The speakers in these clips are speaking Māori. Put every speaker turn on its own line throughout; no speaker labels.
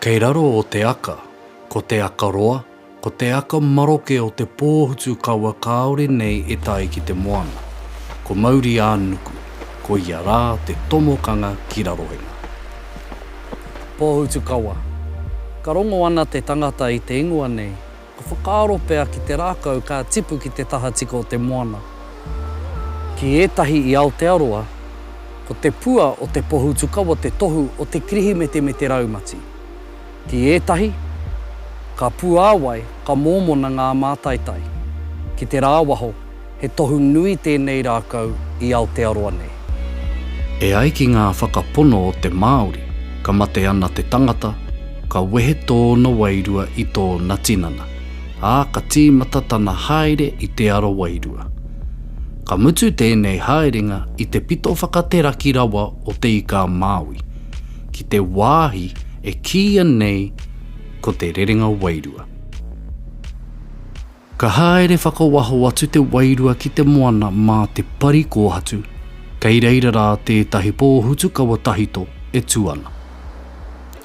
Kei raro o te aka, ko te aka roa, ko te aka maroke o te pōhutu kaua kāore nei e tae ki te moana. Ko Mauri-ā-nuku, ko ia rā te tomokanga ki Rarohenga. Pōhutu kaua. Ka rongo ana te tangata i te ingoa nei, Ka whakaaro pea ki te rākau ka tipu ki te tahatika o te moana. Ki ētahi i Aotearoa, ko te pua o te pohutukawa te tohu o te Kirihimete me te raumati. Ki ētahi, ka puāwai, ka mōmona ngā mātaitai. Ki te rāwaho, He tohu nui tēnei rākau i Aotearoa nei. E ai ki ngā whakapono o te Māori, ka mate ana te tangata, ka wehe tōna wairua i tōna tinana, ā, ka tīmata tana haere i te ara wairua. Ka mutu tēnei haerenga i te pito whakateraki rawa o Te Ika-a-Māui, ki te wāhi e kīia nei ko te rerenga wairua. Ka haere whakawaho atu te wairua ki te moana mā te pari kōhatu, kei reira rā tētahi pōhutukawa tahito e tū ana.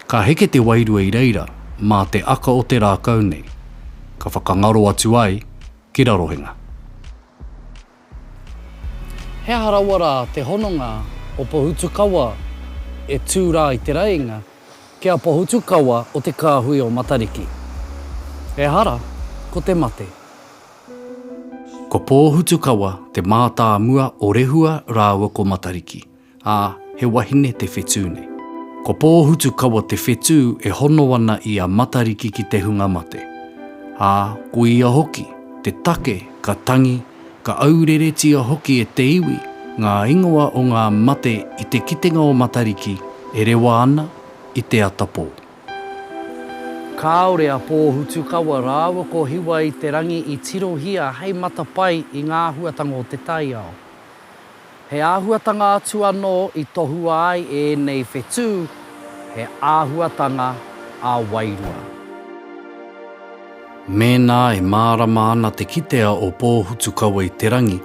Ka heke te wairua i reira mā te aka o te rākau nei, ka whakangaro atu ai ki Rarohenga. He aha rawa rā te hononga o Pohutukawa e tū rā i te rēinga ki a Pohutukawa o te kāhui o Matariki? Ehara, ko te mate. Ko Pōhutukawa te mātāmua o Rehua rāua ko Matariki. ā, he wahine te whetū nei. Ko Pōhutukawa te whetū e hono ana i a Matariki ki te hunga mate, ā, ko ia hoki te take ka tangi, ka aureretia hoki e te iwi ngā ingoa o ngā mate i te kitenga o Matariki e rewa ana i te ata pō. Kāore a Pōhutukawa rāua ko Hiwa-i-te-rangi i tirohia hei matapae i ngā āhuatanga o te taiao. He āhuatanga atu anō i tohua ai ēnei whetū, he āhuatanga ā-wairua. Mēnā e mārama ana te kitea o Pōhutukawa-i-te-rangi,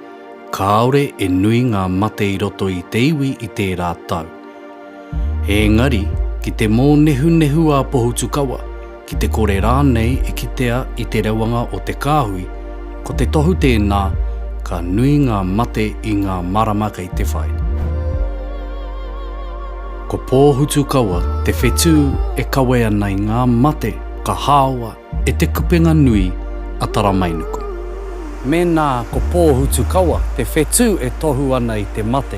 kāore e nui ngā mate i roto i te iwi i tērā tau. Ēngari, ki te mōnehunehu a Pohutukawa, ki te kore rānei e kitea i te rewanga o te kāhui, ko te tohu tēnā, ka nui ngā mate i ngā marama kei te whai. Ko Pōhutukawa te whetū e kawe ana i ngā mate ka hāoa e Te Kupenga Nui a Taramainuku. Mēnā ko Pōhutukawa te whetū e tohu ana i te mate,